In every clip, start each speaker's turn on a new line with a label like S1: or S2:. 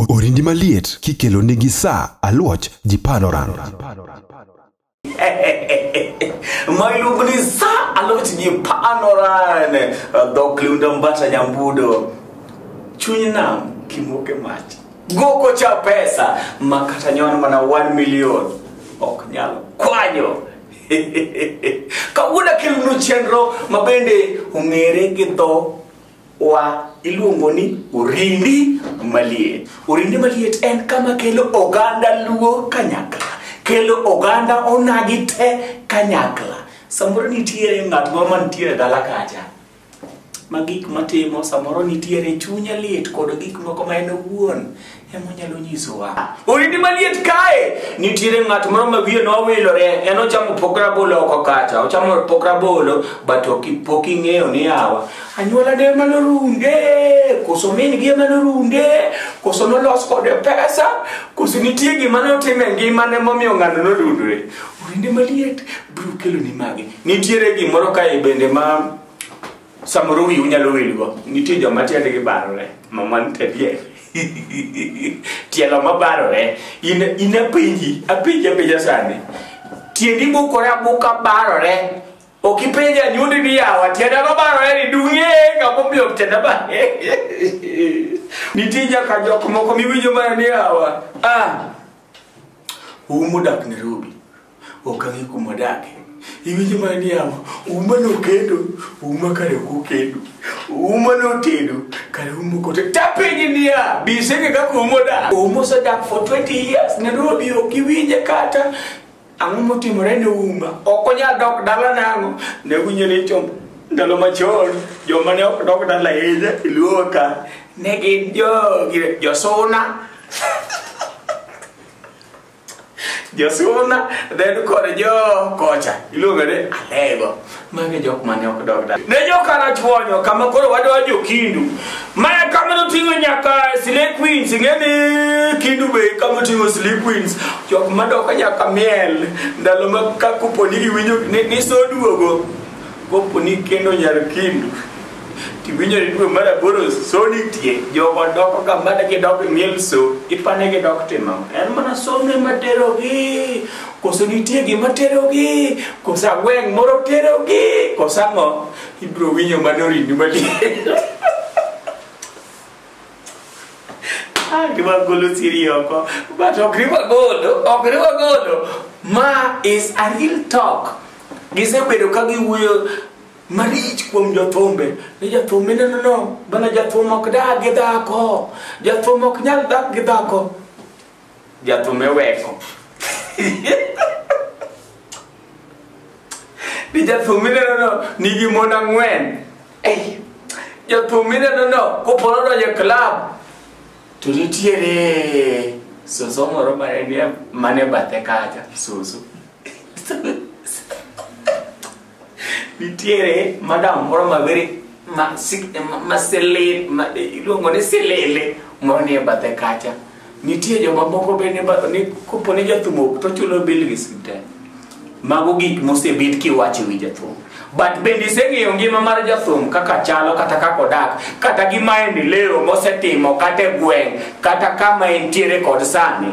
S1: Orindi maliet kikelo nigi sa aluoch ji panoran.
S2: Mailuongo ni sa aluoch ji panoran. Dhok liunda mbata nyambudo. Chuny nam kimoke mach. Goko cha pesa ma kata nyon mana 1 million ok nyal kwanyo. Kawuono akelonu chenro ma bende ong'ere gi dho wa iluongo ni orindi maliet. Orindi maliet en kama kelo oganda luo kanyakla, kelo oganda onagi te kanyakla. Samoro nitiere ng'at moro mantiere e dala kacha ma gik matimo samoro nitiere chunye lit kod gik moko ma en owuon emonyalo nyisowa orindi maliet kae nitiere ng'at moro ma wiye nowilore en ochamo pok rabolo oko kacha ochamo pok rabolo but pok ing'eyo ni awa anyuola ne ema norunde koso min gi ema norunde koso nolos kode pesa koso nitie gima notim e ngimane momiyo ng'ano norundore orindi maliet biro keloni magi nitiere gimoro kae bende ma Samoro wiu nyalo wilgo, nitie joma tiendgi barore, mama nitie tielo mabarore. In in apenji, apenji apenja sani. Tiendi bukore abuka barore. Ok ipenja nyundi ni yawa, tienda mabarore ni dung'e kama omiyo tienda ba. Nitie nyaka jok moko miwinjo mana ni yawa. Ah, umu dak Nairobi. ok ang'e kuma odake iwinjo mana ni yawa uma nokendo uma kare ok okendo uma notedo kare uma ok otedo tapenji niya bisenge kaka uma odak uma osedak for 20 years nairobi ok iwinje kata ang'o motimore ne uma ok onyal dok dala nang'o ne winjo ni chom ndalo machon joma ne ok dok dala ahinya e luo ka ne gin jo- josuna Josuna then kod jo kocha iluongo ni alego magi jok mane ok dog da ne jokana chwonyo kama koro wadwa jokindu mae kama noting'o nyaka sile queens ing'eni kindu be kama oting'o sile queens jok madoko nyaka miel ndalo ma ka koponi giwinjo ni- nisoduogo koponi kendo nyar kindu Tiwinjo ni dwe mar aboro so nitie jogo doko ka mana gidok e miel so ipane gidok timo ang'o? en mana somne materogi koso nitie gima terogi koso agweng' moro terogi koso ang'o ibiro winjo manorini maliet Ah, riwa golo siri oko but ok riwa golo ok riwa golo ma is a real talk gisebedo ka giwuoyo marich kuom jothumbe ni jathum minenono bana jathum ok dak gi dhako jathum ok nyal dak gi dhako jathum eweko ni jathum minenono nigi mon ang'wen jathum minenono koporo donjo e klab to nitiere soso moro mane bathe kacha soso nitiere madam moro mawere ma sik- ma- ma sele- ma- iluongo ni silele moro nie bathe kacha nitie joma moko be ni ba- ni kopo ni jathum ok to chulo bil gi siptal mago gik mosebed kiwacho wi jathum but bende iseng'eyo ngima mar jathum kaka chalo kata kaka odak kata gima endeleo mosetimo kata e gweng' kata kama entiere kod sani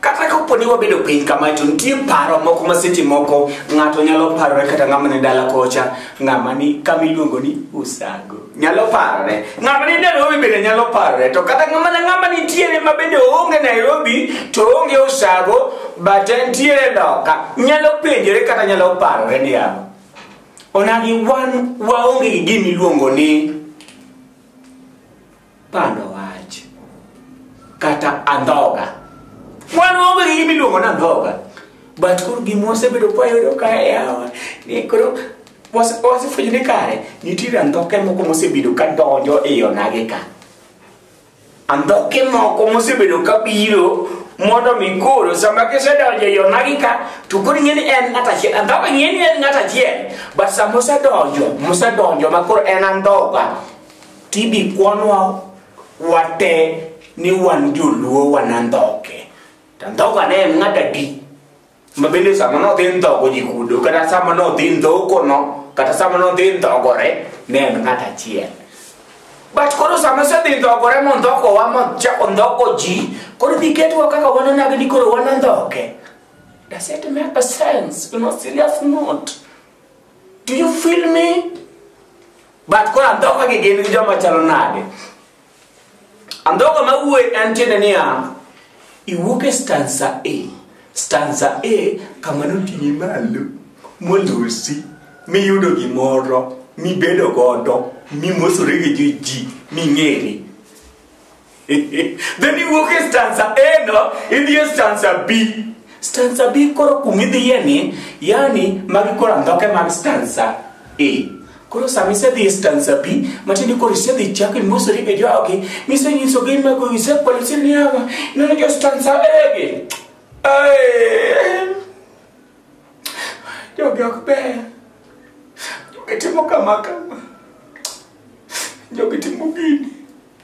S2: Kata kapo ni wabedo piny kamae to nitie paro moko ma seche moko ng'ato nyalo parore kata ng'ama ni dala kocha ng'ama ni kama iluongo ni usago nyalo parore ng'ama ni Nairobi bende nyalo parore to kata ng'ama na ng'ama nitiere ma bende oonge Nairobi to oonge usago but entiere loka nyalo penjore kata nyalo parore ni yawa onagi wan waonge gi gima iluongo ni pando wach kata andhoga wan onge gi gima iluongo ni andhoga but koro gima wasebedo kwayudo ka yawa ni koro wase- wasefwenyo ni kare nitiere andhoke moko mosebedo ka donjo e yonage ka andhoke moko mosebedo ka biro mondo mi koro sama gisedonjo e yonagi ka to koro ing'e ni en ng'at achiel andhoga ing'e ni en ng'at achiel but sama osedonjo mosedonjo ma koro en andhoga TB kwanwa wate ni wan joluo wanandhoke. To ndhoga ne en ng'at adi. Ma bende sama nodhi ndhogo ji kudo, kata sama nodhi ndhokono, kata sama nodhi ndhogore, ne en ng'at achiel. But koro sama osedhi ndhogore mondhokowa mochako ndhoko ji, koro dhi ketwa kaka wanonag ni koro wanandhoke. Does it make a sense? You know, serious note. Do you feel me? but koro andhoka gi gin gi joma chalo nade andhoka ma wuoyi en tiende niya iwuok e stanza a stanza a kama noting'i malo molosi miyudo gimoro mibedo godo mimosore gi ji ming'ere then iwuok e stanza a no idhi e stanza b stanza b koro kumidhiye ni yani magi koro andhoke mag stanza a koro sama isedhi e stanza b matiende koro isedhi chako imosori e jogi misenyisogi mago isekwalo iseniaga ineno jo stanza a gi Ai. jogi ok ber jogi timo kama kama jogi timo gini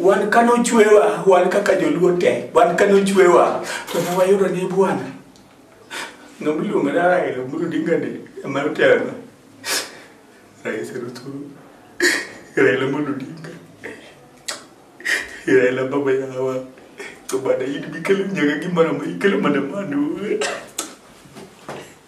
S2: wan ka nochwewa wan kaka joluo te wan ka nochwewa to ne wayudo ni bwana nomiluongo ni Raila Amolo Odinga ni ema otelo rais Ruto Raila Amolo Odinga Raila baba yawa to bana in bikelo nyaka gimoro ma ikelo mana mano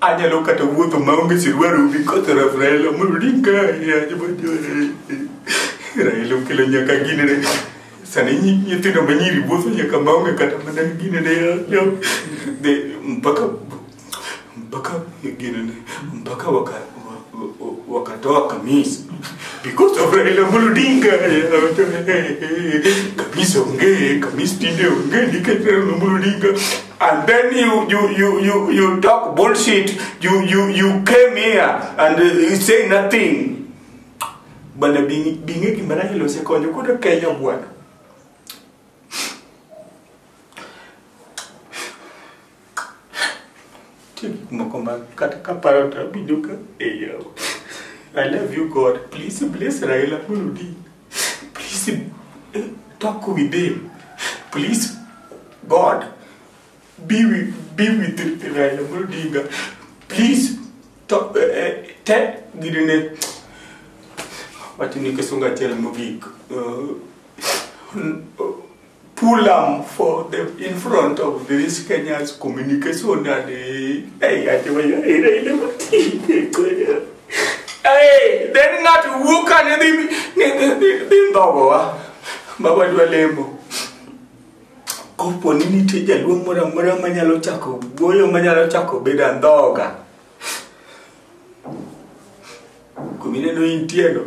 S2: Anyalo kata wuotho maonge sirwar ubi koto raf Raila Amolo Odinga Raila okelo nyaka ginene sani nyithindo manyiri wuotho nyaka maonge kata mana ginene mpaka mpaka ginene mpaka waka wakatoa kamisi because of Raila Amolo Odinga kamisi ongee kamisi tinde ongee nikech Raila Amolo Odinga and then you you you you you talk bullshit you you you came here and uh, you say nothing bana bingi bingi gima Raila osekonyo kuda Kenya bwana Nitie gik moko ma kata kaparo to abinjo ka eyawo. I love you God. Please bless Raila Amolo Odinga. Please eh, talk with him. Please God be with, be with Raila Amolo Odinga. Please talk, eh, tell gidene wachni kisunga achiel mogik. Uh, pull am for the in front of this Kenya's communication and eh, hey, I tell you, eh, eh, eh, eh, eh, eh. Hey, then not who can ni ni ni ni ndogo wa baba dwa lemo kopo ni nitie jaduong' moro amora manyalo chako goyo manyalo chako bedo andhoga kumineno intieno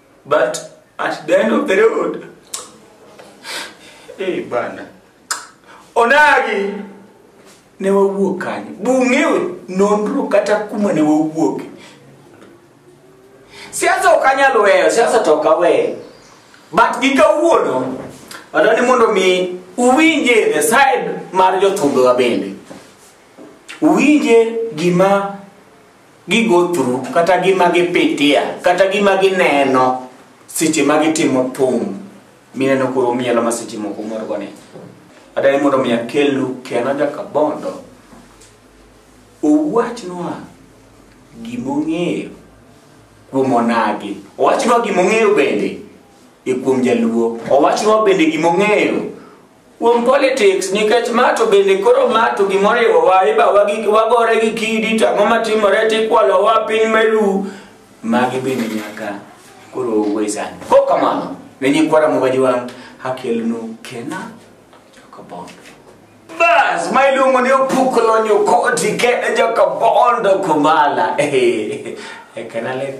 S2: but at the end of the road eh bana onagi ne wawuok kanye bung'ewe nonro kata kuma ne wawuoke siasa ok anyal weyo siasa to ok aweyo but gi kawuono wadwa ni mondo mi uwinje the side mar jothumbewa bende uwinje gima gi go through kata gima gipitia kata gima gineno seche ma gitimo thum mineno koro mielo ma seche moko morgo ni adai mondo mi akelnu kena jakabondo owachnwa gimong'eyo kuom onagi owachnwa gimong'eyo bende e kuom jaluo owachnwa bende gimong'eyo kuom politics nikech ma to bende koro ma to gimoriwo wa iba wagore gi kidi to ang'o matimore to ikwalo wa piny melu magi bende nyaka koro wesan ko kamano ne nyikwara mogaji wang' akelnu kena jokabondo bas ma iluongo ni opuklo nyokoti kene jokabondo kumala ekanale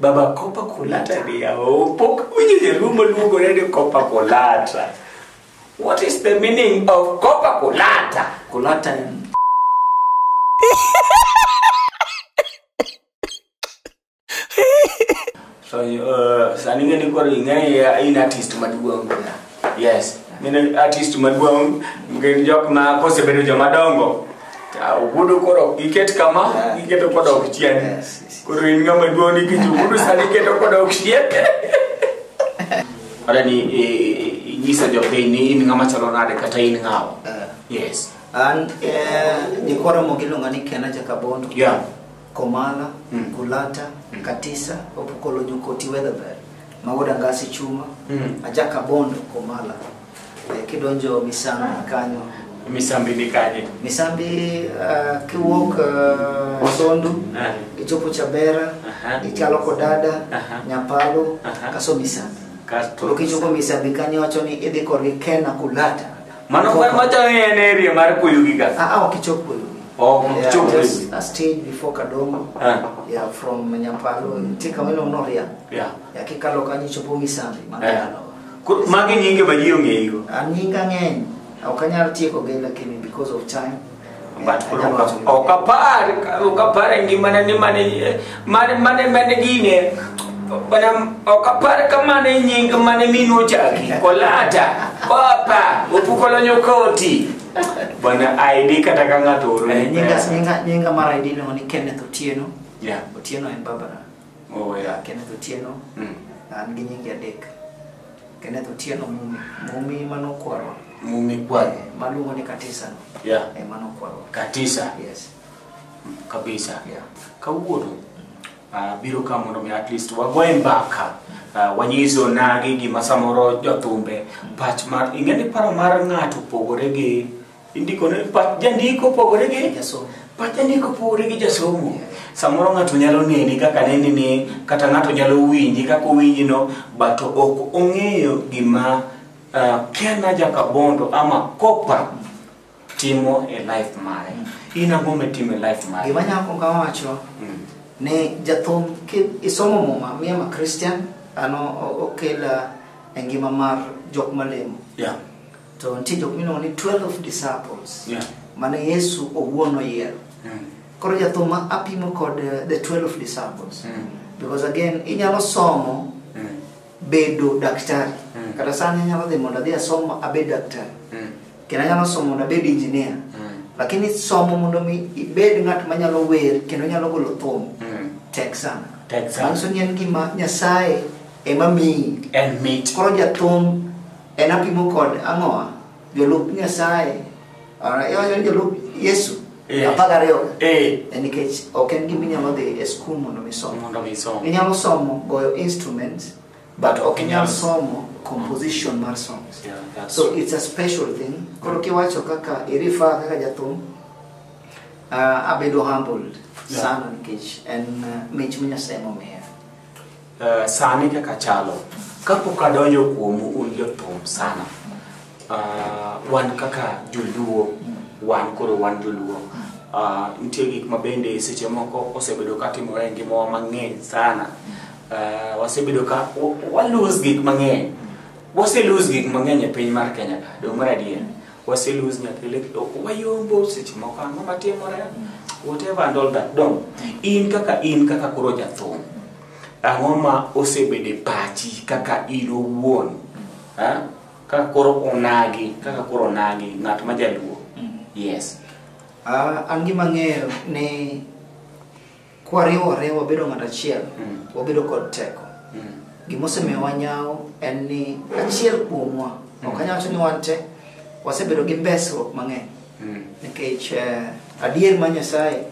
S3: Baba
S2: Kopa Kulata ni yao. Pok winjo jalumo luongore ni Kopa Kulata. What is the meaning of Kopa Kulata? Kulata en So, uh, sani ng'e ni koro ing'eya in artist maduong' kuna. Yes. Mine artist maduong' gin jok ma kosebedo joma dongo. Ka ogudu koro giket kama, giketo kodok chien. Yes, yes. Koro in ng'ama duong' ni kitu ogudu sani keto kodok chien. Ora ni eh, eh, inyisa jopiny ni in ng'ama chalo nade kata in ng'awa. Eh, Yes. An eh,
S3: jikoro mogiluonga ni Kena Jakabondo. Yeah.
S2: Komala,
S3: Mm. Kulata, Mm. Katisa, Opukolo Nyokoti Weatherberry, Magoda Ngasi Chuma, Mm. Ajaka Bondo, Komala. Eh, Kidonjo Misambi kanyo. Misambi ni
S2: kanye? Misambi uh,
S3: kiwuok uh, Sondu, Ah. ichopo Chabera, Aha. ichalo Kodada, Aha. Nyapalo, Aha. kaso Misambi. Kasto Koro kichopo Misambi kanyo wacho ni idhi korgi Kena Kulata. Mano mar machalo
S2: ni en area mar kuyu gi gas. Ah, ah, ok ichop kuyu.
S3: Oh, yeah, ichop kuyu. Just a stage before Kadongo. Ah. Yeah, from Nyapalo. Mm. Tika weno no ria. Yeah. Yeah, kikalo
S2: kanyo ichopo
S3: Misambi. Yeah. Kuru,
S2: magi nyinge ma ji ong'eyigo. Ah, nyinga ng'eny.
S3: Ok anyal tieko gi lakini because of time. but koro Anyalo wacho
S2: gima- ok apar ok apar e ngimana ni mane mane mane mane gine bana ok apar ka mane nying mane minwa ochaki kolata papa opukolo nyokoti bana ID kata ka ng'ato oro Eh, nyinga nyinga nyinga
S3: mar ID iluongo ni Kenneth Otieno Yeah. Otieno
S2: en Barbara
S3: Oh, yeah. Kenneth
S2: Otieno,
S3: Mm. an gi nyinge adek. Kenneth Otieno Mumi, Mumi mano kwarwa. Mumi kwarwa.
S2: Eh, Maluongo ni Katisa
S3: no. Yeah. Eh, mano
S2: kwarwa.
S3: Katisa. Yes. kabisa
S2: yeah.
S3: kawuono
S2: uh, biro ka mondo mi at least wagoye mbaka uh, wanyiso nagi gima samoro jothumbe pach mar ing'e ni paro mar ng'ato opogore gi Indiko ne pach jandiko pogore gi Jasomo. pach jandiko
S3: pogore
S2: gi jasomo. Samoro ng'ato nyalo neni kaka neni ni kata ng'ato nyalo winji kaka owinji no but ok ong'eyo gima uh, Kena Jakabondo ama Kopa timo e life mare. In ang'o mitimo e life mare? Gima nyako ka wacho Mm.
S3: ni jathum ki isomo muma mi ama Christian ano o- okela e ngima mar jok malemo. Yeah.
S2: To nitie jok
S3: miluongo ni 12 disciples Yeah. mane
S2: Yesu
S3: owuon oyiero. Mm. Koro jathuma apimo kod eh, the 12 disciples. Mm. Because again inyalo somo Mm. bedo daktari. Mm. Kata sani anyalo dhi mondo adhi asom abed daktari. Mm. Kendo anyalo somo mondo abed engineer. Mm. Lakini somo mondo mi ibed ng'at manyalo wer kendo nyalo golo thum Mm. tek sana. Tek sana. Manyiso ni en gima Nyasaye ema miyi. En mit. Koro
S2: jathum
S3: En apimo kod ang'owa? Jolup Nyasaye, ara- yo- jolup Yesu, Eh. apar gariyo. Eh. En nikech ok en gima inyalo dhi e skul mondo mi som. Mondo mi som. Inyalo somo goyo instruments, but ok inyal Yes. somo composition mar songs. Yeah, that's So it's a special thing. Koro kiwacho kaka irifa kaka jathum, uh, abedo humbled Yeah. sana nikech en uh, mich ma Nyasaye momiya. Eh,
S2: sani kaka chalo kapok adonjo kuomu un jothum sana Ah, wan kaka joluo wan koro wan joluo Ah, nitie gik ma bende seche moko osebedo ka timore e ngimawa mang'eny sana Ah, wasebedo ka wa- walose gik mang'eny waselose gik mang'eny e piny mar kenya ka dong mar adier wase lose nyathi like oh, wayombo seche moko ang'o matimore whatever and all that don in kaka in kaka koro jathum ang'o ma osebede pachi kaka in owuon ha? kaka koro onagi kaka koro onagi ng'at ma jaluo yes Ah,
S3: an gima ng'eyo ni Kwariwore wabedo ng'at achiel, Mm. wabedo kod teko. Mm. Gima osemiyo wanyawo en ni achiel kuomwa, ok anyal wacho ni wan te, wasebedo gi mbesruok mang'eny. Mm. Nikech eh, adier ma Nyasaye,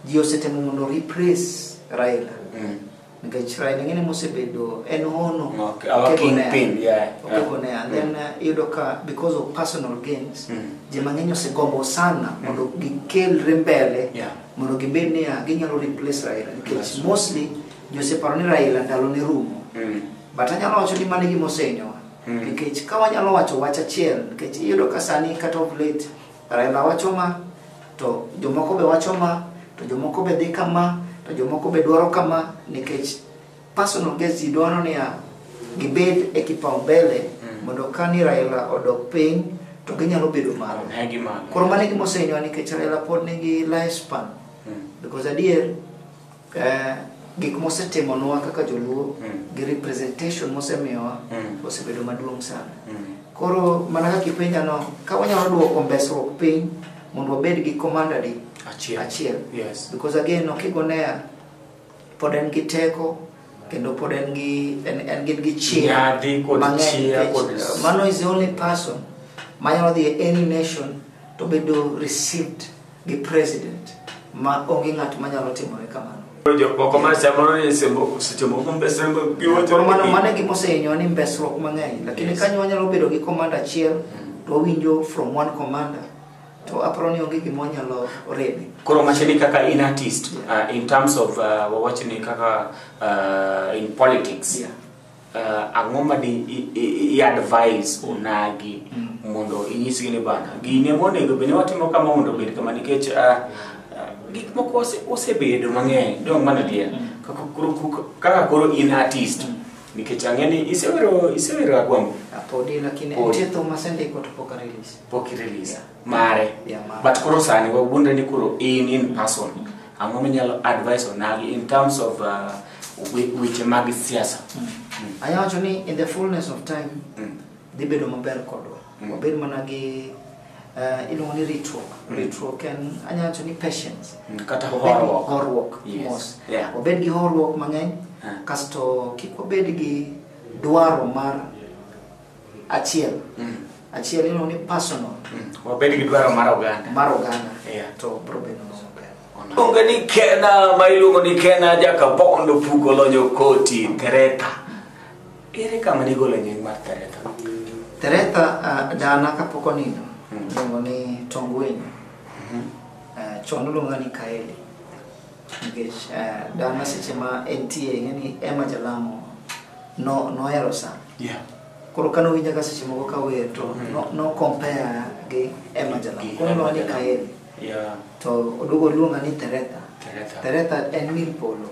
S3: ji osetemo mondo replace Raila. Mm. Nikech Raila ing'e ni mosebedo en hono Okay, our Okego ne- kingpin,
S2: yeah. Okego ne and
S3: then uh, iyudo ka because of personal gains Mm. ji mang'eny osegombo sana mondo gikelre mbele Yeah. mondo gibed niya ginyalo replace Raila nikech That's right. mostly ji oseparo ni Raila ndalo ne rumo Mm. but anyalo wacho ni mano e gima osenyowa Mm. nikech ka wanyalo wacho wach achiel nikech iyudo ka sani kata of late Raila wacho ma to jomoko be wacho ma to jomoko be dhi kama to jomoko be dwaro kama nikech personal gains ji dwaro niya gibed e kipaumbele Mm. mondo kani Raila odok piny to ginyalo bedo malo Ne gi malo. koro mano e gima osehinyowa nikech Raila pod nigi lifespan Mm. because adier Eh, gik mosetimonwa kaka joluo Mm. gi representation mosemiyowa Mm. osebedo maduong' sana Mm. koro mana kaka ipenja no ka wanyalo duoko mbesruok piny mondo wabed gi komandadi Achiel. achiel Yes. because
S2: again okigonea
S3: pod en gi teko kendo pod en gi en, en gin gi chia Nyadhi kod mang'eny chia nikech, kod- uh, mano is the only person manyalo dhi e any nation to bedo received gi president ma onge ng'at manyalo timore kamano jok moko ma samoro ni sembo seche moko mbesembo giwacho mano mano gima osehinyo ni mbesruok mang'eny lakini yes. kanyo wanyalo bedo gi komanda achiel to wawinjo from one commander to aparo ni onge gima wanyalo reme koro mache ni kaka
S2: in artist yeah. uh, in terms of uh, wawach ni kaka uh, in politics yeah. uh, ang'o ma di i-advise mm. onagi mm. mondo inyisgi ni bana gini ema onego bende watimo kama mondo obed kama nikech uh, uh, gik moko osebedo mang'eny dong mana dier mm. kaka koro in artist nikech ang'e ni isewero isewero agwambo ah, podi lakini nitie
S3: thum masendiko to pok arelease pok irelease mare Yeah,
S2: mare. but koro sani wawuondre ni koro in in person ang'o minyalo advice onagi in terms of uh, we- weche mag siasa Anya wacho
S3: ni in the fullness of time Mm. dhi bedo maber kodwa. Mm. Wabed mana gi eh, iluongo ni ritruok. Ritruok en anya wacho ni patience. Mm, kata Wabed gi horuok.
S2: Horuok. Yes. mos. Yeah.
S3: Wabed gi horuok mang'eny Ah. kasto kik wabed gi dwaro mar achiel Mm. achiel ino ni personal Wabed gi dwaro
S2: mar oganda. mar oganda Yeah. to bro
S3: bedo no maber Iluongo ni
S2: Kena ma iluongo ni Kena Jakabondo Pugo Lonyo Koti Tereta. Ere kama nigolo nying mar Tereta? Teretha
S3: uh, dana kapok onindo Mm. iluongo ni Tongwiny uh, chon iluonga ni Kaeli Nikech eh, dana seche ma entie ing'e ni Emma Jalamo no- nohero sa. Yeah. Koro kane owinja ka seche moko kawer to no- no compare gi Emma Jalamo. Gi Koro Emma nolony Jalamo. kaeri. Yeah. To oduogo oluonga ni Teretha. Teretha. Teretha en mil polo.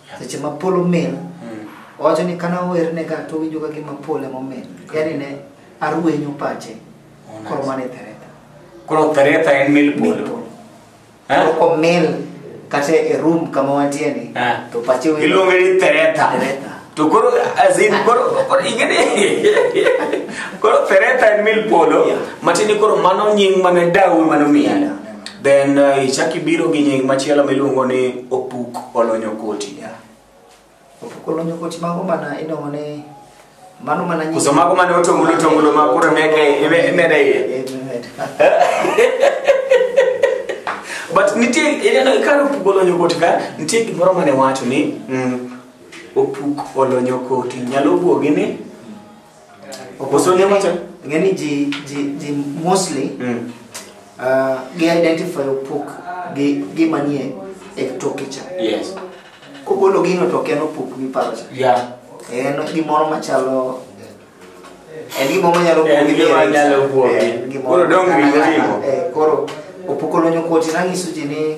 S3: Yeah. Seche ma polo mil Mm. owacho ni kana werne ka to winjo ka gima pole momil yani ne arwenyo pache Oh, nice. koro mane tereta Koro Teretha
S2: en mil Mil polo. polo. Eh? to
S3: komil kata e room kama wantie ni Eh. to pache wilo iluonge ni thereta Thereta.
S2: to koro azin koro koro ingene koro thereta en mil polo Yeah. matini koro mano nying mane dawu mano miyi Yeah, yeah. then uh, ichak ibiro gi nying machielo miluongo ni opuk olonyo koti Yeah.
S3: Opukolo nyokoti mago mana idongo ni mano mana nyi- Koso mago mane otongulo
S2: tongulo ma koro meke ime- imede iye. Eh, imed. But nitie ineno kar opuk olonyo koti ka nitie gimoro mane wacho ni mm, opuk olonyo koti nyalo bwogi ni
S3: Oboso ne wacho ng'eni ji ji ji mostly mm. uh, gi identify opuk gi gi manie e toke cha. Yes.
S2: Kogolo
S3: gino to ken opuk mi paro cha. Yeah. En
S2: gimoro
S3: machalo en gimoro manyalo kuogi. En gimoro manyalo kuogi. Koro
S2: dong' ringo ringo. Eh, koro
S3: opuk olonyo koti nanyiso ji ni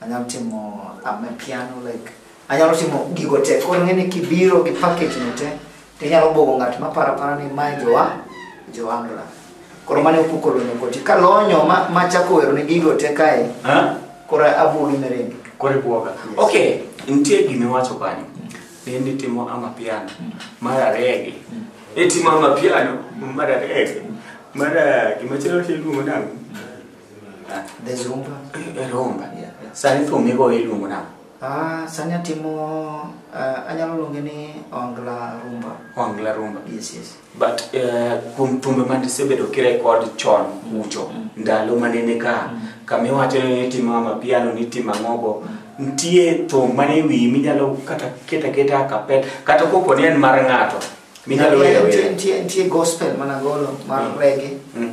S3: Anyalo timo I'm a piano like anyalo timo gigo te koro ng'eni kibiro gi package no te to inyalo bwogo ng'at ma para para ni mae jowa joandra koro mane opuko lonyo koti ka lonyo ma, ma chako wero ni gigo te kae Ha? koro abwogi mereni Kore buoga. Yes.
S2: Okay, nitie gima iwacho kanyo. Ne ni timo ama piano. Mar arege. Ne timo ama piano. Mar arege. Mar ah, gima chalo tiluongo nang'o?
S3: Ah, There's rumba. eh, Rumba. Yeah,
S2: yeah. Sani thum migo iluongo nang'o? Ah, sani atimo
S3: uh, anyalo luonge ni ongla rumba. Ongla rumba. Yes,
S2: yes. But
S3: eh,
S2: kuom thumbe mane isebedo kirekod chon ucho ndalo mane ni ka kama iwacho ni itimo ama piano ni itimo ang'ogo nitie thum mane wiyi minyalo kata keta keta a kapel kata kopo ni en mar ng'ato minyalo Yeah, wero nitie- wero. nitie- Nitie gospel
S3: mana golo mar Mm. reggae. Mm.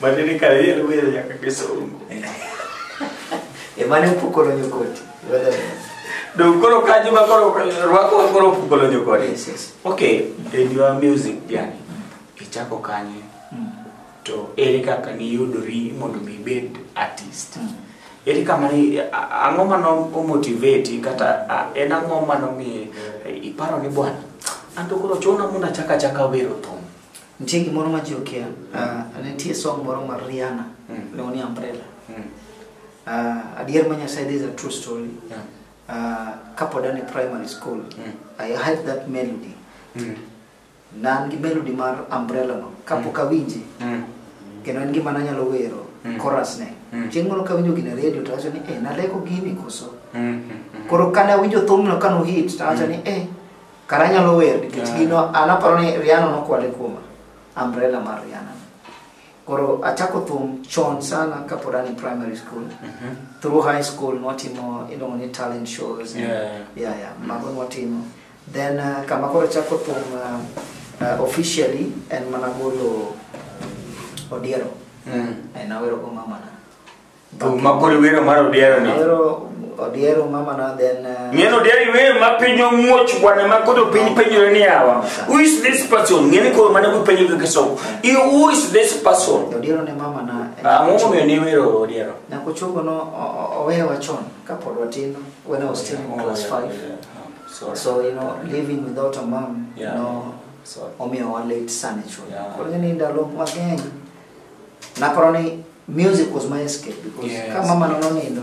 S2: Madini kare yele wele nyaka kisungu.
S3: Emane pukolo nyokoti.
S2: Dong koro kanyo ma koro rwako wa koro pukolo nyokoti. Yes, yes. Okay,
S3: in
S2: your music journey, ichako kanye? To ere kaka niyudori mondo mi ibed artist? Eri kama ni ang'o ma nomotivate kata a- en ang'o ma nomiye eh, iparo ni bwana an to koro chuna mondo achak achaka wero thum. Nitie gimoro ma
S3: ji okia. Ah, Nitie song moro mar Rihanna, Mm. iluongo ni Umbrella. Mm. Ah, Adier ma Nyasaye, this is a true story. Yeah. Ah, Kapod an e primary school, Mm. I had that melody. Mm. Nan gi melody mar umbrella no kapok awinje Mm. kendo en gima nanyalo wero Mm. chorus ne Mm. chieng' moro kawinjo gine radio to awacho ni eh naleko gini koso Mm, mm, mm. koro kane awinjo thumno kano hit to awacho ni eh kara anyalo wer nikech Yeah. gino an aparo ni Rihanna nokwale kuoma umbrella mar Rihanna koro achako thum chon sana kapod an e primary school Mhm. through high school nwatimo iluongo ni talent shows Yeah. yeah, yeah. mago nwatimo Then uh, kama koro chako thum uh, uh, officially en mana golo uh, odiero. Mm. En awero go mama na. Thum ma
S2: koro iwero mar odiero ni. Awero odiero
S3: mama na then uh, ng'en odiero iweyo
S2: ma piny omuoch bwana ma koro piny penjore ni yawa who is this person ng'eni koro mana kupenjo kaka somo i who is this person odiero ne mama
S3: na ang'o momiyo niwero
S2: odiero Nakuchungo no
S3: o- o- owewa chon. Kapod watin, when I was still in class 5. Sorry. So, you know, living without a mom, you Yeah. know, Sorry. omiyo wa late sana chuo. Yeah. Koro ni ndalo mang'eny naparo ni music was my escape because Yes. ka mama nono nindo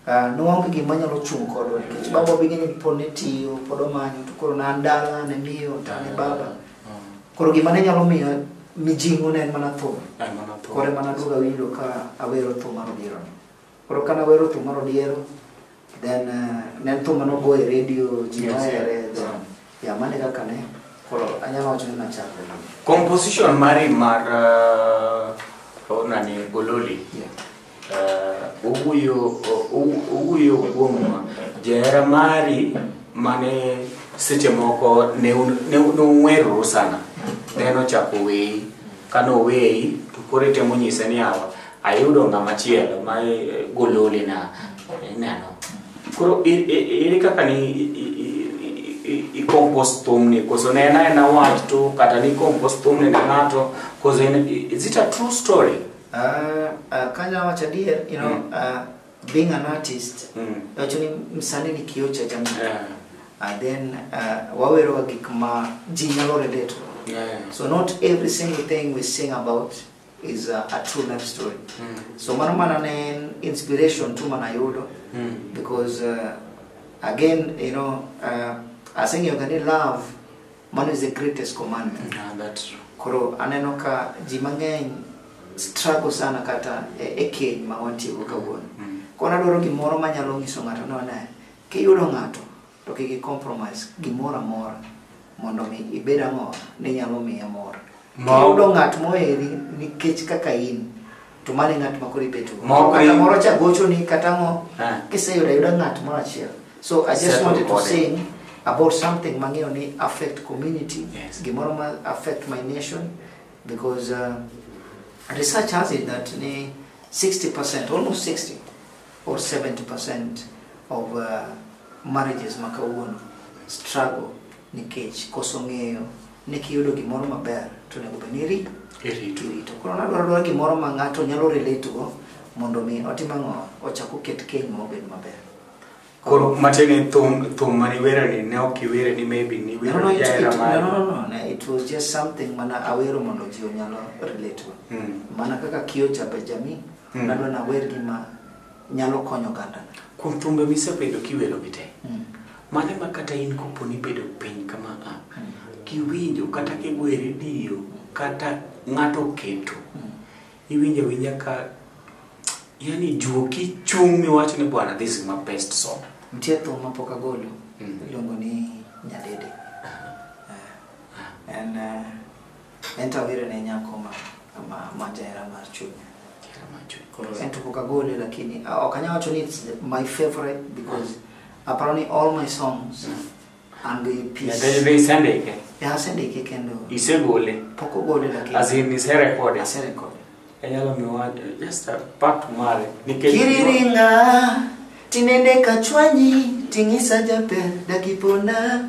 S3: uh, noonge gima nyalo chung' kodwa nikech baba bige ni pod ne tiyo pod omanyo to koro nan dala ne miyo to ne baba koro gima ne nyalo miya mijing'o ne en mana thum Ay, mana thum. koro mana duoga winjo ka awero thum mar obiro ni Koro kane awero thum mar odiero then uh, ne en thum mane ogo e radio ji Yes, nohere then ya mane kaka ne koro anyalo wacho ni nachako na Composition
S2: mari mar uh, oh, nani Gololi. Yeah. Uh, owuyo o- o- owuyo kuom jahera mari mane seche moko ne un- ne un- ne ung'weroru sana then ochako weyi kane oweyi to koro itemo nyise ni awa Ayudo ng'ama chielo ma eh, gololi na ineno. Koro i- i- ere kaka ni i- i- i- i- i- i compose thumni koso ne en aena wach to kata ni compose thumni ne ng'ato koso en is it a true story? Ah, ah,
S3: kanya wacho adier you know Mm. ah, being an artist Mm. wacho ni msani ni kioo cha jamii Yeah. and then ah, waweroga gik ma ji nyalo relate Yeah. so not every single thing we sing about is a, a true life story Mm. so mano mana ne en inspiration tu mana yudo Mm. because uh, again you know uh, aseng'eyoga ni love mano is the greatest commandment Ah, that's true. koro
S2: aneno ka
S3: ji mang'eny struggle sana kata e, e keny ma wantiego kawuono Mm. koro adwaro gimoro manyalo nyiso ng'ato ni one kiyudo ng'ato To kik i compromise gimoro amora mondo mi ibed ang'o ni nyalo miye mor. Ma- Kiyudo ng'at moheri nikech kaka in to mano e ng'at ma koro ibeto. Ma ok Kata in- moro cha gochoni kata ang'o Ah. kiseyudo ayuda ng'at moro achiel. So I just Settle wanted to body. say about something mang'eyo ni affect community, Yes. gimoro ma affect my nation because uh, research has it that ni 60% almost 60 or 70% of uh, marriages ma kawuono struggle nikech koso ng'eyo ni kiyudo gimoro maber to onego bed ni iri- Irito. irito koro nadwaro dwaro gimoro ma ng'ato nyalo relate go mondo mi otim ang'o ochak oket keny ma obed maber Koro
S2: matiende ni thum thum mane iwero ni ne ok iwere ni maybe ni No, wero no, it, it, jahera
S3: no, mari. no, no, no, it
S2: was just something
S3: mana awero mondo ji onyalo relate go Mm. mana kaka kiyo jabe jamii Mm. Nadwa nawer gima nyalo konyo oganda. Kuom thumbe misebedo
S2: kiwero gi te. Mm. Mano ema kata in kopo ni ibedo piny kama a mm. kiwinjo kata kigoyo e redio kata ng'ato oketo mm. iwinjo awinja ka yani juoki chung' miwacho ni bwana this is my best song. Nitie thum ma pok
S3: agolo mm. iluongo ni Nyadede. Ah. Ah. And uh, Ento awire ne nyako ma ma ma jahera mar chunya. Koro ento pok agole lakini ah, ok anyal wacho ni it's the- my favorite because aparo ni all my songs an gi peace. Nyathini be isendike?
S2: Yeah, asendike kendo
S3: Isegole? pok
S2: ogole lakini
S3: As in iserekode?
S2: aserekode.
S3: Inyalo miwa
S2: just a part mare nikech Kiriringa
S3: tinende kachwanyi ting'isa jaber dakipona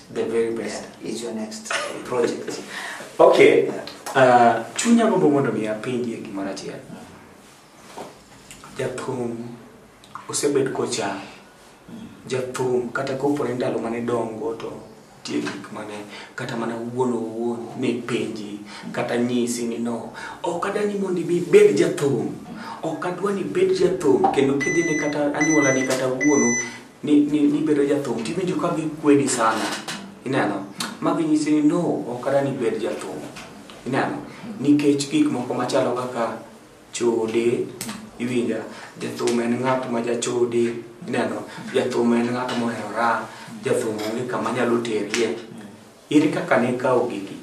S3: the very best
S2: yeah, is your next
S3: project okay
S2: yeah. uh, chunya gombo mondo mi apenjie gimoro achiel jathum osebed kocha jathum kata kopore ndalo mane dongo to tie gik mane kata mana wuon owuon ne penji kata nyisi ni no ok adani mondo ibi bed jathum ok adwa ni bed jathum kendo kidhine kata anyuolani kata wuonu ni, ni, ni bedo jathum tiwinjo ka gikwedi sana ineno magi nyisi ni no ok ada ni bed jathum ineno nikech gik moko machalo kaka chode iwinja jathum en ng'at ma jachode ineno jathum en ng'at moherora jathum onge kama nyalo terie Ere kaka ne ikawo gigi?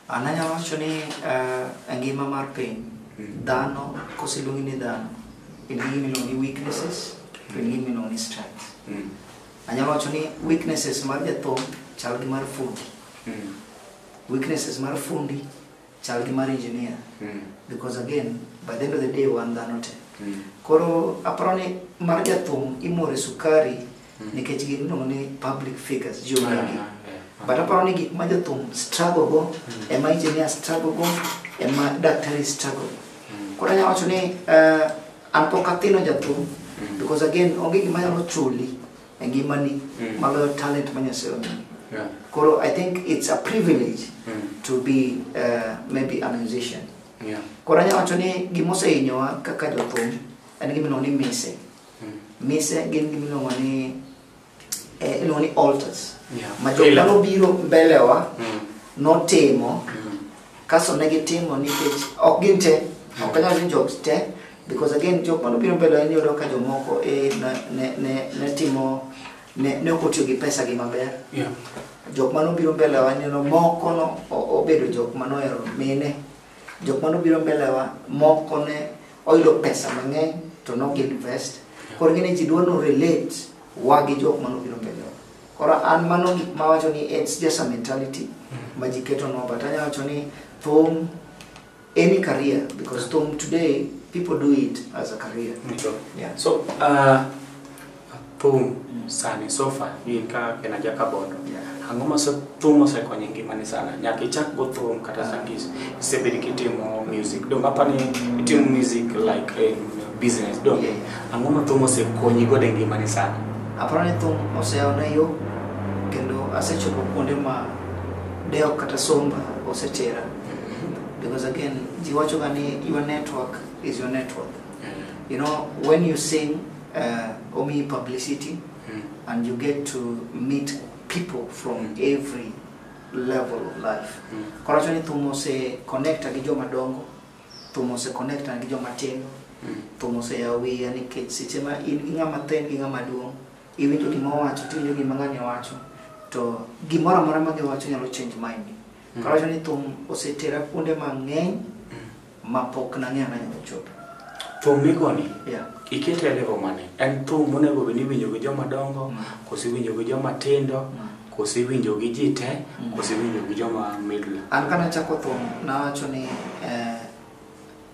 S2: An anyalo
S3: wacho ni eh, e ngima mar piny, dhano koseluongi ni dhano, in gi gima iluongo ni weaknesses, to in gi gima iluongo ni strengths. Anyalo wacho ni weaknesses mar jathum chal gi mar fundi. Weaknesses mar fundi chal gi mar engineer. Because again, by the end of the day, wan dhano te. Koro aparo ni mar jathum imore sukari Mm. nikech gin iluongo ni public figures ji ong'egi Ah, eh, ah. but aparo ni gik ma jothum struggle go Mm. ema engineer struggle go ema daktari struggle go Mm. koro anyalo wacho ni eh, an pok athino jathum Mm. because again onge gima nyalo chuli e ngimani Mm. maloyo talent ma nyasaye omiyi Yeah. koro i think it's a privilege Mm. to be uh, maybe a musician Yeah. koro anyalo wacho ni gima osehinyowa kaka jothum en gima iluongo ni mise Mise gin gima iluongo ni eh, iluongo ni altars. Yeah. Ma jok Ila. mano biro mbelewa Mm. notimo Mm. kaso ne gitimo nikech ok gin te ok anyal ni jok te because again jok mano biro mbelewa ni yudo ka jomoko eh, ne, ne, ne, ne timo ne, ne ok otiyo gi pesa gi maber Yeah. jok mano biro mbelewa neno moko no o- obedo jok mano ohero mine jok mano biro mbelewa moko ne oyudo pesa mang'eny to nok invest koro ngine ji dwa no relate wa gi jok mano biro mbele wa. koro an mano gik ma wacho ni it's just a mentality ma ji keto no but anya wacho ni thum any career because thum today people do it as a career Ndio. yeah. so uh,
S2: thum sani sofa in ka en aja kabondo ang'o ma so- thum osekonyo e ngimani sana nyaka ichak go thum kata sani isebedi kitimo music dong apani itimo music like in business dong ang'o ma thum osekonyi godo e ngimani sana aparo ni thum
S3: oseyaona yo kendo asechopo kuonde ma dewo kata somba osetera because again ji wachoga ni your network is your network you know when you sing uh, omi publicity Mm. and you get to meet people from every level of life Mm. koro wacho ni thum ose connecta gi joma dongo thum ose connecta gi joma tindo Mm. thum ose yawo wiya nikech seche ma in gi ng'ama thin gi ng'ama duong' iwinjo gima owacho tiwinjo gima ng'ani owacho to gimoro amora ma giwacho nyalo change mind koro wacho ni thum osetera kuonde mang'eny ma pok nang'eyo nanyalo chopo. Thum migoni,
S2: Yeah. ikete e
S3: level mane?
S2: En thum monego bed ni iwinjo gi joma dongo, Mm. koso iwinjo gi joma tindo, Mm. koso iwinjo gi ji te, Mm. koso iwinjo gi joma middle. An kana chako thum
S3: nawacho ni eh,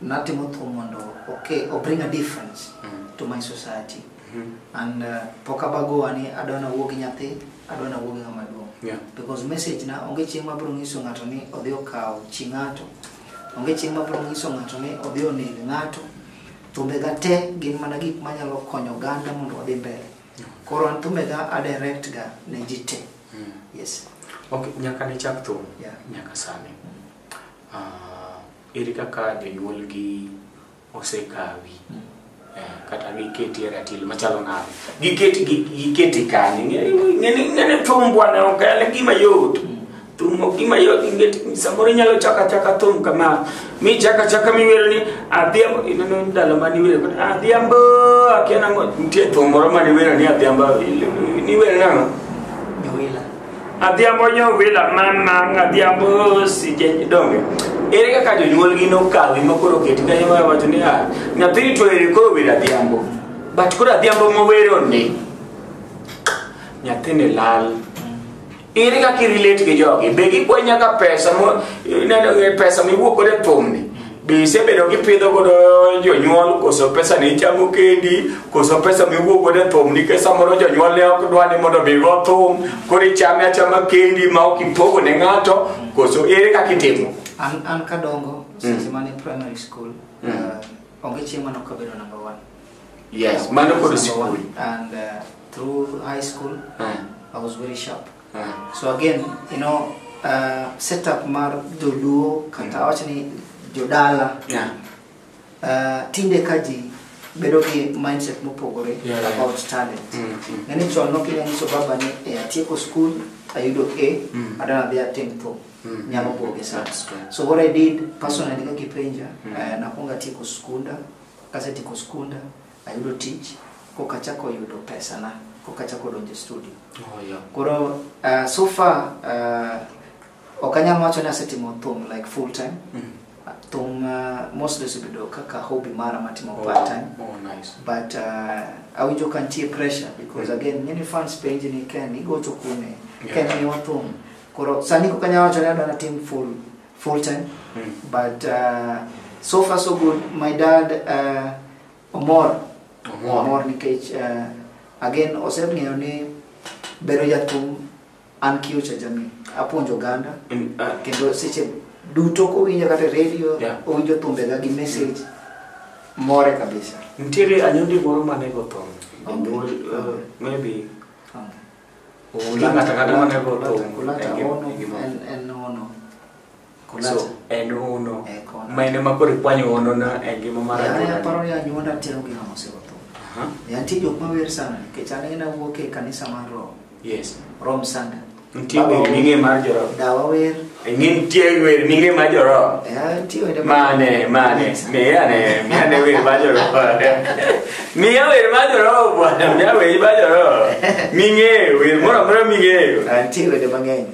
S3: natimo thum mondo okay, o bring a difference Mm. to my society Mhm. and uh, pok abagowa ni adwa nawuo gi nyathi adwa nawuo gi ng'ama duong' Yeah. because message na onge chieng' mabiro nyiso ng'ato ni odhi okaw chi ng'ato Onge chieng' ma biro nyiso ng'ato ni odhi oneg ng'ato. Thumbega te gin mana gik manyalo konyo oganda mondo wadhi mbele. Koro an thumbega adirect ga ne ji te. Mm. Yes. Okay, nyaka
S2: ne chak thum yeah. nyaka sani. Uh, ere kaka jonyuolgi osekawi eh, kata giketi e ratil machalo nade giketi gi- giketi kanye Ng'e- ng'e- ng'e- ng'e ni thum bwana ok en gima yot thum ok gima yot ingeti samoro inyalo chaka chaka thum kama mi chaka chaka miwero ni adhiambo ineno ndalo mane iwero kod adhiambo akia nang'o nitie thum moro mane iwero ni adhiambo niwero nang'o
S3: adhiambo
S2: nyovila mamang adhiambo sije donge ere kaka jonyuolgi nokawi ma koro oketi kanyo ma wacho ni ah, nyathini to ere koro wer adhiambo but koro adhiambo mowero ni nyathini lal ere kaka irelate gi jogi be gikwa nyaka pesa mo- ineno, eh, pesa miwuok godo e thumni Be isebedo kipidho godo jonyuol koso pesa ni ichamo kendi koso pesa miwuok godo e thum nikech samoro jonyuol ne ok dwa ni mondo obigo thum koro ichame achama kendi ma ok ipogo ne ng'ato koso ere kaka itimo An, an kadongo,
S3: seche mane primary school, Mm. uh, onge chieng' mane ok abedo number one. yes
S2: mano kod Number sikul one. And uh,
S3: through high school, Ah. I was very sharp. so again you know uh, setup mar joluo kata awach ni jodala Yeah. uh, tinde ka ji bedo gi mindset mopogore Yeah, yeah. about talent Mm, mm. nene chon nokinya nyiso baba ni e atieko school ayudo a Mm. adana dhi atim to Mm. nyalo buoge sana That's true. so what i did personally kakipenja Mm. uh, nakwonga tieko skunda kasetieko skunda Ayudo tich koka chako yudo pesa na koka chako donjo studio. Oh, yeah. Koro uh, so far uh, ok anyal wacho ni asetimo thum like full time. Mm. Thum uh, mostly osebedo kaka hobby mara matimo oh, part time. Oh, nice. But
S2: uh,
S3: awinjo ka nitie pressure because mm. again ng'eni fans penji ni Ken igocho kuome. Yeah. Ken miwa thum. Koro sani koka anyal wacho ni adwa natim full full time. Mm. But uh, so far so good. My dad uh, Omor. Omor. Omor nikech uh, again oseng'eyo ni bedo jathum an kiyo cha jamii. Apuonjo oganda. Mm, ah, Kendo seche duto kowinjo kata e radio, Yeah. owinjo thumbega gi message. More kabisa. Nitiere anyundi
S2: moro mane go thum. Onge. Jonyuol, uh, Maybe Onge. Onge ng'ato ang'ata mane go thum. Kulata, kulata,
S3: E gima- ono, e gima- en- en ono.
S2: Kulacha. so en hono Eh, kona. ma en ema koro ikwanyo honona e ngima mar Yara anyuolani. yaparo ni anyuonda
S3: tero gi ng'ama osetho. Aha, E antie jok mawer sana nikech an en awuok e kanisa mar Rom, yes Rom
S2: Sanda.
S3: nitie Baba wer ming'e
S2: mar joroho Dawa wer.
S3: ing'e nitie wer
S2: ming'e mar joroho E antie wende mane
S3: mane
S2: miyane miyane wer mar joroho miya wer mar joroho bwana miya wer mar joroho ming'eyo wer moro amora ming'eyo Antie wende mang'eny.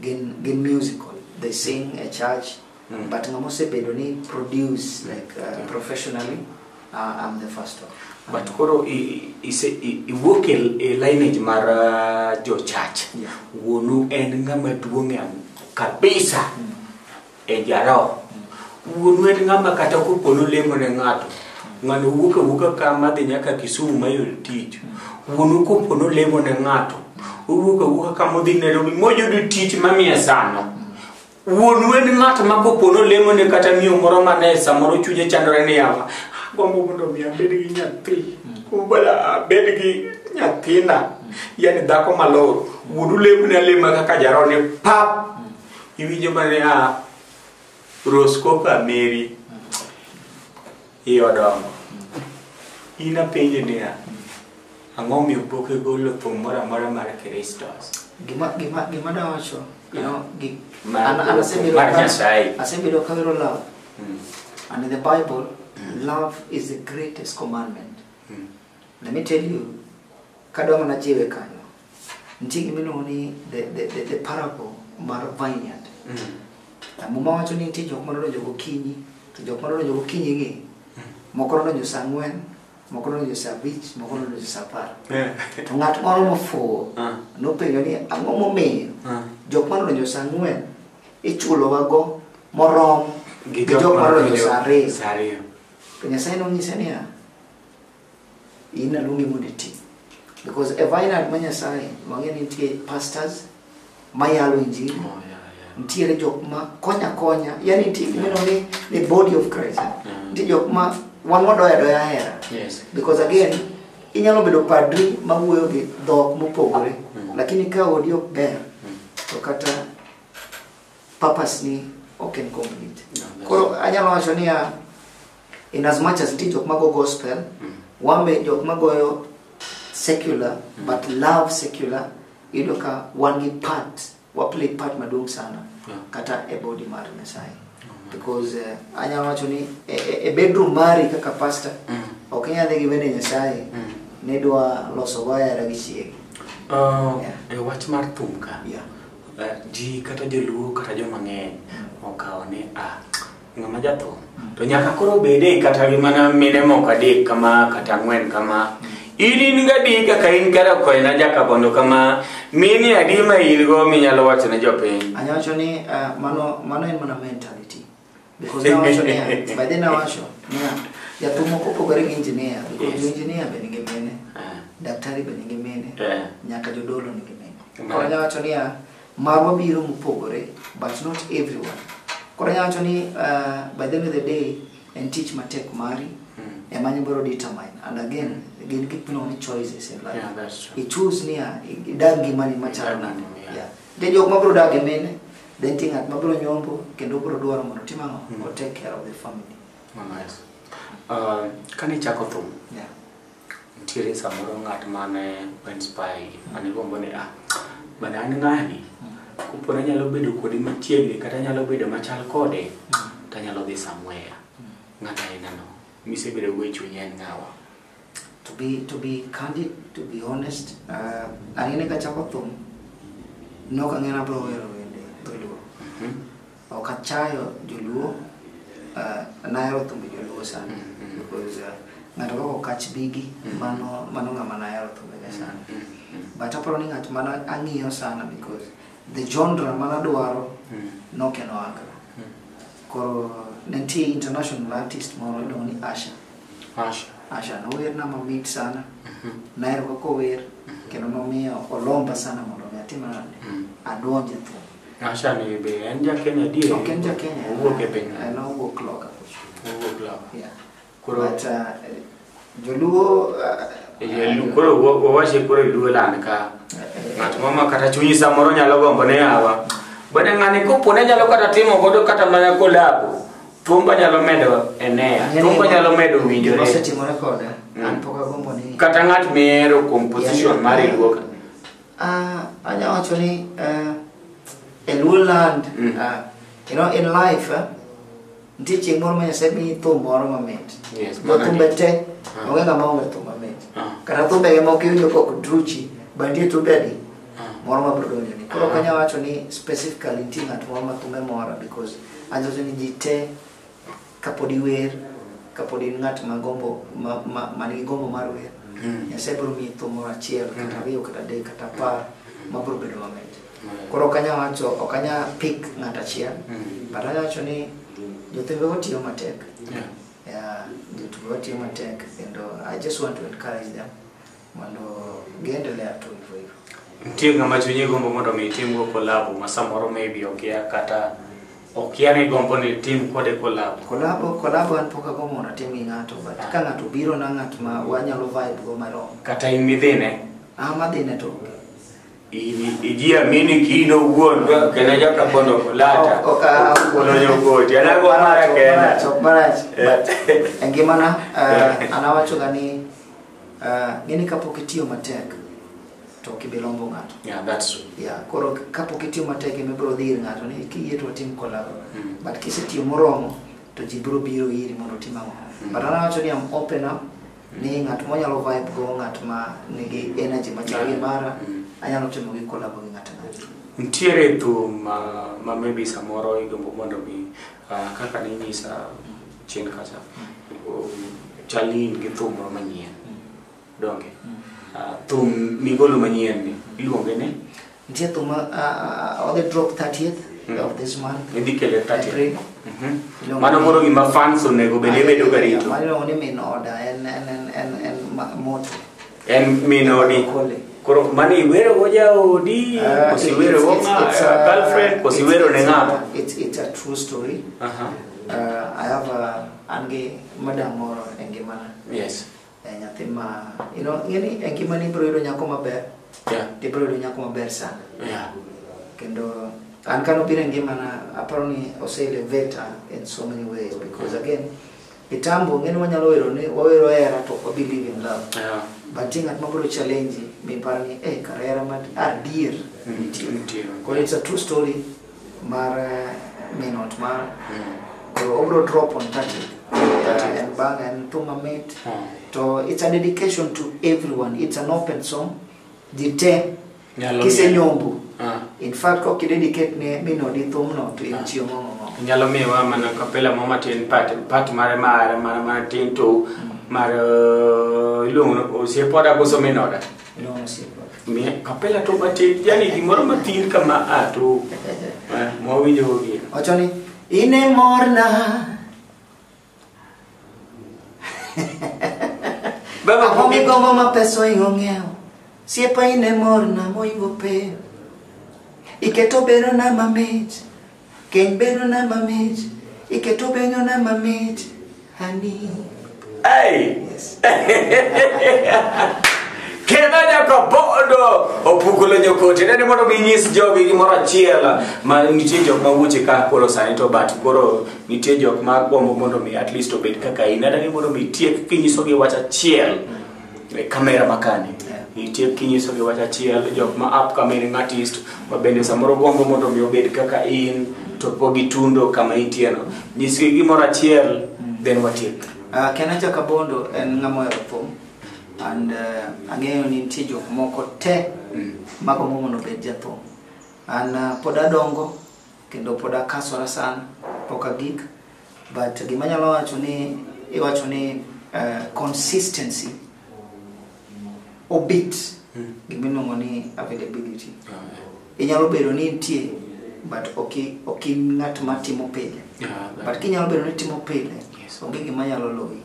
S3: gin gin musical they sing a church mm. but ngamo sebedo ni produce like uh, mm. professionally uh, i'm the first one but um, koro
S2: iwuok e, e lineage mar uh, jo church yeah. wuonu en ng'ama duong'e kabisa mm. e jaroho wuonu en ng'ama kata kopo nolemo ne ng'ato ng'ano wuok awuoka ka madhi nyaka kisumu mayudo tich wuonu kopo nolemo ne ng'ato owuok awuoka ka modhi nairobi moyudo tich mamiye sano wuonu en ng'at ma kopo nolemo ne kata miyo moro mane samoro chunye chandore ni yawa agombo mondo mi abed gi nyathi ubala abed gi nyathina yani dhako malor wuonu lemo ne alema kaka jarone pap Iwinjo mane a Roscopa Mary i odongo. In apenje niya, ang'o miyo pok igolo thum moro amora mar Kristos? Gima gima
S3: gima dawacho, you know, gi Mar- an an asebedo mar ka- Nyasaye. asebedo ka wero love. Mm. And in the Bible, love is the greatest commandment. Mm. Let me tell you, kadwa mana jiwe kanyo. nitie gima iluongo ni the, the, the, the parable mar vineyard mm. muma wacho ni nitie jok ma nodonjo gokinyi to jok ma nodonjo gokinyi gi mm. moko nodonjo sa ang'wen moko nodonjo sa abich moko nodonjo sa apar eh. to ng'at moro mofuwo ah. nopenjo ni ang'o momiyo ah. jok ma nodonjo sa ang'wen ichulowago morom gi jok ma nodonjo sa ariyo to nyasaye nonyise niya in aluongi mondo iti because e vineyard ma nyasaye wang'e ni nitie pastors mayalo injili Oh, yeah, yeah. nitiere jok ma konya konya yani nitie gimeno ni the body of christ Mm. nitie jok ma wan wadoya doya hera Yes. because again inyalo bedo padri mawuoyo gi dhok mopogore Mm. lakini ka odi ok ber to kata purpose ni ok en complete No, that's- koro anyalo wacho niya in as much as nitie jok mago gospel mm. wan be jok magoyo secular mm. but love secular iyudo ka wan gi part waplay part maduong' sana yeah. kata e body mar nyasaye oh, because uh, eh, anyalo wacho ni e, e, e bedroom mari kaka pastor mm. ok inyal dhi gi wende nyasaye mm. nidwa loso wayara gi chiegi uh, yeah.
S2: e wach mar thum ka yeah. uh, ji kata joluo kata jomang'eny mm. okawo ni ah, ng'ama jatho to nyaka koro bede kata gi mana mine moko adek kama kata ang'wen kama in in gadi kaka in kara koena jakabondo kama mini adi ma in go minyalo wacho ne jopiny anyalo wacho ni uh,
S3: mano mano en mana mentality because nawacho niya by then nawacho niya jathum ok opogore gi engineer because Yes. jo engineer be nigi mine Ah, daktari be nigi mine eh, nyaka jodolo nigi mine Mine. koro anyalo wacho niya marwa biro mopogore but not everyone koro anyalo wacho ni uh, by the end of the day en tich matek mari mm. ema nyibiro determine and again gin gik miluongo ni choices in life yeah, that's true. ichus niya idag ngimani machalo nade yeah. then jok mabiro dag e mine then ti ng'at mabiro nyombo kendo biro dwaro mondo tim ang'o mm. o take care of the family oh, nice. uh,
S2: kane ichako thum yeah.
S3: nitiere
S2: samoro ng'at mane inspire gi mane gombo ni ah bana an ng'ani kopo nanyalo bedo kode machiegni kata anyalo bedo machal kode to anyalo dhi somewhere ng'at ainano misebedo go e chunyi en ng'awa to be
S3: to be candid to be honest uh, anene kachako thum nok ang'e nabro wero wende dholuo Ok achayo joluo, uh, nahero thumbe joluo sana because uh, ng'ato kaka okach bigi mano mano ng'ama nahero thumbege sana. But aparo ni ng'at mano ang'iyo sana because the genre mano adwaro nokeno aka. Koro ne nitie international artist moro iluongo ni Asha. Asha. Asha nowerna mamit sana. Nahero kaka ower kendo nomiyo olomba sana mondo mi atim nade? Adonj e thum. Asha ni be
S2: en ja Kenya adier? Ok en ja Kenya. Owuok
S3: e piny. En
S2: owuok loka.
S3: Owuok
S2: loka.
S3: Yeah.
S2: Koro But, uh, joluo uh, koro wawache koro iluo land ka ng'at moro ma kata chunyi samoro nyalo gombo ne yawa bende ng'ani kopone nyalo kata timo godo kata mana kolabo thumba nyalo medo enea thumba nyalo medo winjore
S3: mm. kata ng'at mihero
S2: kuom position mar iluoka Ah,
S3: anya wacho ni eh, e Luo land ah, you know, in life eh, nitie chieng' moro ma Nyasaye miyi thum moro mamit Yes, Jo thumbe magani.
S2: te
S3: Ah. onge ng'ama onge thum mamit Ah. kata thumbege moko iwinjo kok druchi bandie thumbe adi Ah. moro ma biro donjoni koro ok Ah. anya wacho ni specifically nitie ng'at moro ma thumbe mora because anyiso ni ji te kapod iwer kapod in ng'at ma gombo ma- ma- man gi gombo mar wer nyasaye biro miyi thum moro achiel kata ariyo kata adek kata apar ma biro bedo mamit koro ok anyal wacho ok anyal pik ng'at achiel but anyal wacho ni jothembe watiyo matek Yeah. Yeah, jotugo watiyo matek kendo i just want to encourage them Mondo giendelea tu hivyo hivyo. Nitie ng'ama chunyi
S2: gombo mondo mi itimgo kolabo ma samoro maybe okia kata okia ni gombo ni tim kode kolabo. Kolabo kolabo an
S3: pok agombo mondo atim gi ng'ato but ka ng'ato biro na ng'at ma wanyalo vibe go marom. Kata in midhine.
S2: Ah madhine to
S3: onge.
S2: ijiamini kino wuon kendo joka kondo kulata Ok, ah, kolonyo koti anago mara kenda Marach, ok marach. But
S3: e ngimana eh, an awachoga ni Ah, ng'e ni kapok itiyo matek to ok ibi lombo ng'ato Yeah, that's true. yeah,
S2: koro kapok
S3: itiyo matek ema ibiro dhi ir ng'ato ni kiyie to watim kolabo Mm. but kisetiyo moromo to ji biro biro iri mondo otim ang'o Mm. but an awacho ni am open up ni ng'at monyalo vibe go ng'at ma nigi energy machal gi mara Mm. anyalo timo gi kolabo gi ng'ato ang'ata Ntiere
S2: thum ma, ma maybe samoro igombo mondo mi uh, kaka ninyisa chien kacha chalni in gi thum moro manyien donge Ah, thum migolo manyien ni iluonge ni Nitie thum ah,
S3: ah, odhi drop 30th Mm. of this month. idhi kele tati April.
S2: Mhm. mano koro gima fans onego bed ibedo garito Mano ni min order
S3: en en en en, en ma- moto. En min
S2: odi. Koro mani iwero go jaodi, Uh, kosi it- wero go it's- ng'a, it's a- girlfriend, kosi it's- wero ne it's ng'a. a- It's, it's a true
S3: story. Aha. Uh, I have a, an gi madam moro e ngimana. Yes. Eh,
S2: nyathi ma,
S3: you know, ing'eni e ngimani ibiro yudo nyako maber, Yeah. to ibiro yudo
S2: nyako maber
S3: sana. Yeah.
S2: Kendo
S3: an kano biro e ngimana, aparo ni ose elevate in so many ways because again, Mitambo ng'eni wanyalo wero ni wawero hera to ok wabi live in love. Yeah. But ng'at
S2: ma biro
S3: challenge mi paro ni eh kar hera ma adier nitie. Nitie. Koro it's a true story mar eh, min ot mara. Mm. Koro obro drop on 30. Yeah. En bang' en thum mamit. Mm. To it's a dedication to everyone. It's an open song. Ji te Nyalo kisenyombo Ah. in fact kok ideni ket ne mino di thumno to in chiemo ng'ong'o nyalo miwa mana
S2: kapela mo matin pat pat mare mare mare mare tin to mar eh, iluongo ni osiepoda koso minoda iluongo osiepo
S3: Mi- kapela
S2: to matin yani gimoro matin kama a to eh, mwawinjo gi wacho ni in
S3: e morna Baba Ang'o kumi. migombo ma pesa oingo ng'iewo? Siepa in e morna moingo peyo. Iketo berona mamit, keny berona mamit, iketo benyona mamit, honey. Hey.
S2: Kendo nyaka bodo opukulo nyokote nene mondo ginyis jogi gimoro achiel ma nitie jok ma wuoche ka kolo sani to but koro nitie jok ma gombo mondo mi at least obed kaka in adagi mondo mi tiek kinyisogi wach achiel e kamera makani itiek kinyisogi wach achiel jok ma up coming artist ma bende samoro gombo mondo mi obed kaka in to po gi tundo kama intieno nyisgi gimoro achiel then watiek Uh, Kenacha
S3: Kabondo en ng'ama ohero thum and uh, ang'eyo ni nitie jok moko te magombo mondo obed jathum. An uh, pod adongo kendo pod akasora sana pok agik but gima nyalo wacho ni iwacho ni uh, consistency obit mm. gima iluongo ni availability yeah. inyalo bedo ni nitie but ok in ng'at matimo pile yeah, but kinyalo bedo ni timo pile Onge gima nyalo loyi.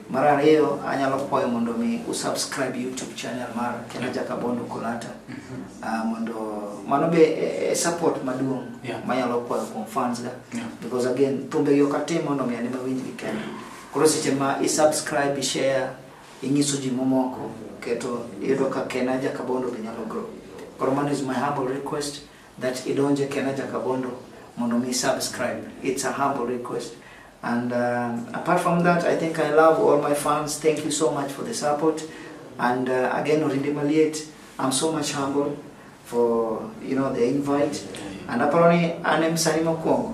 S3: Mar ariyo, anyalo kwayo mondo mi usubscribe YouTube channel mar Kena Jakabondo Kolata. Ah, mondo mano be e- e support maduong' Yeah. manyalo kwayo kuom fans ga. Yeah. Because again, thumbe gi ok atim mondo mi anima winj gi kenda. Koro seche ma isubscribe, ishare, inyiso ji momoko, keto iyudo ka Kena Jakabondo be nyalo grow. Koro mano is my humble request. that idonje kenaja kabondo mondo mi subscribe it's a humble request and um, apart from that i think i love all my fans thank you so much for the support and uh, again orinde maliet i'm so much humble for you know the invite and aparo ni an em sani mokwongo